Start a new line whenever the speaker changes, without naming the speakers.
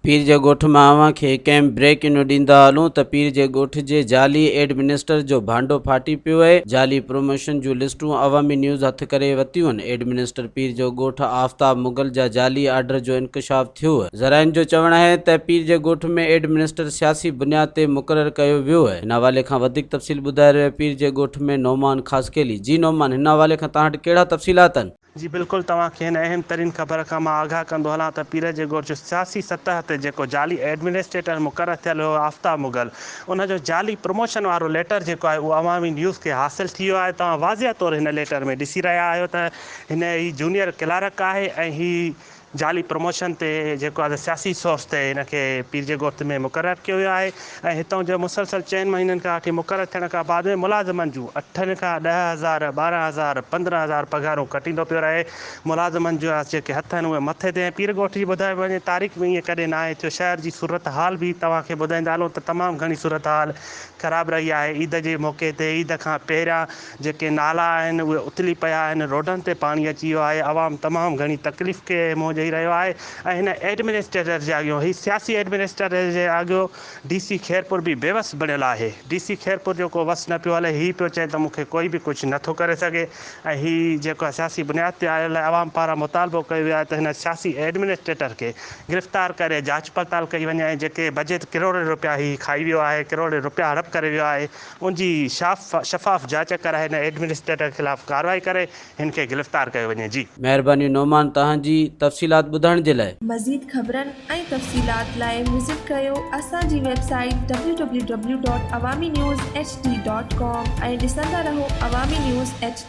پير جي ڳوٺ مان اوهان کي ڪئين بريڪ انو ڏيندا هلون ته پير جي ڳوٺ جي جعلي ايڊمنسٽر جو ڀانڊو ڦاٽي پيو اهي جعلي پروموشن جون لسٽون عوامي نيوز هٿ ڪري وتيون ايڊمنسٽر پير جو ڳوٺ آفتاب مغل جا جعلي آرڊر جو انڪشاف ٿيو. ذرائعن جو چوڻ آهي ته پير جي ڳوٺ ۾ ايڊ منسٽر سياسي بنياد تي مقرر ڪيو ويو. هن حوالي کان وڌيڪ تفصيل ٻڌائي رهيو پير جي ڳوٺ ۾ نعمان خاصخيلي جي نعمان هن حوالي کان توهان وٽ ڪهڙا تفصيلات آهن؟ جي بلڪل توهان کي
هن اهم ترين خبر کان مان آگاهه ڪندو هلان ته پير جي ڳوٺ جو سياسي سطح تي جيڪو جعلي ايڊمنسٽريٽر مقرر ٿيل هيو آفتاب مغل ان جو جعلي پروموشن وارو ليٽر جيڪو آهي اهو عوامي نيوز کي حاصل ٿي ويو آهي توهان واضح طور هن ليٽر ۾ ڏسي رهيا آهيو ته هن هي جونيئر ڪلارڪ آهي ۽ هي جعلي پروموشن تي جيڪو آهي سياسي سورس تي هن کي پير جي ڳوٺ ۾ مقرر ڪيو ويو آهي ۽ هتان جو مسلسل چئن مهينن کان وٺي مقرر ٿيڻ کان بعد ۾ ملازمن جون اٺن کان ڏهه هزار، ٻارهن هزار، پندرهن هزار پگهارون ڪٽيندو پيو رهي، ملازمن جا جيڪي هٿ آهن اهي مٿي تي ۽ پير ڳوٺ جي ٻڌائي وڃي تاريخ ۾ ائين ڪڏهن ناهي ٿيو، شهر جي صورتحال به توهان کي ٻڌائيندا هلون ته تمام گهڻي صورتحال خراب رهي آهي، عيد جي موقعي تي عيد کان پهريان. جيڪي نالا آهن اهي اتلي پيا آهن، روڊن تي پاڻي اچي ويو آهي، عوام تمام گهڻي تڪليف کي منهن ڏئي رهيو آهي ۽ هن ايڊمنسٽريٽر جي اڳيون هي سياسي ايڊمنسٽريٽر جي آڳيو ڊي سي خيرپور به بيوس بڻيل آهي، ڊي سي خيرپور جو ڪو وس نه پيو هلي، هي پيو چئي ته مون کي ڪوئي به ڪجهه نه ٿو ڪري سگهي ۽ هي جيڪو سياسي بنياد تي آيل آهي عوام پاران مطالبو ڪيو ويو آهي ته هن سياسي ايڊمنسٽريٽر کي گرفتار ڪري جاچ پڙتال ڪئي وڃي ۽ جيڪي بجيٽ ڪروڙين روپيا هي کائي ويو آهي، ڪروڙين روپيا هڙپ ڪري ويو آهي، ان جي شفاف جاچ ڪرائي هن ايڊمنسٽريٽر خلاف ڪارروائي ڪري هن کي گرفتار ڪيو وڃي جي. مهرباني نعمان
تهان جي تفصيلات ٻڌائڻ جي لاء. مزيد خبرن ۽
تفصيلات لاء وزٽ ڪيو اسان جي web site W W W dot Awami news H D dot com ۽ ڏسندا رهو عوامي نيوز ايڇ ڊي.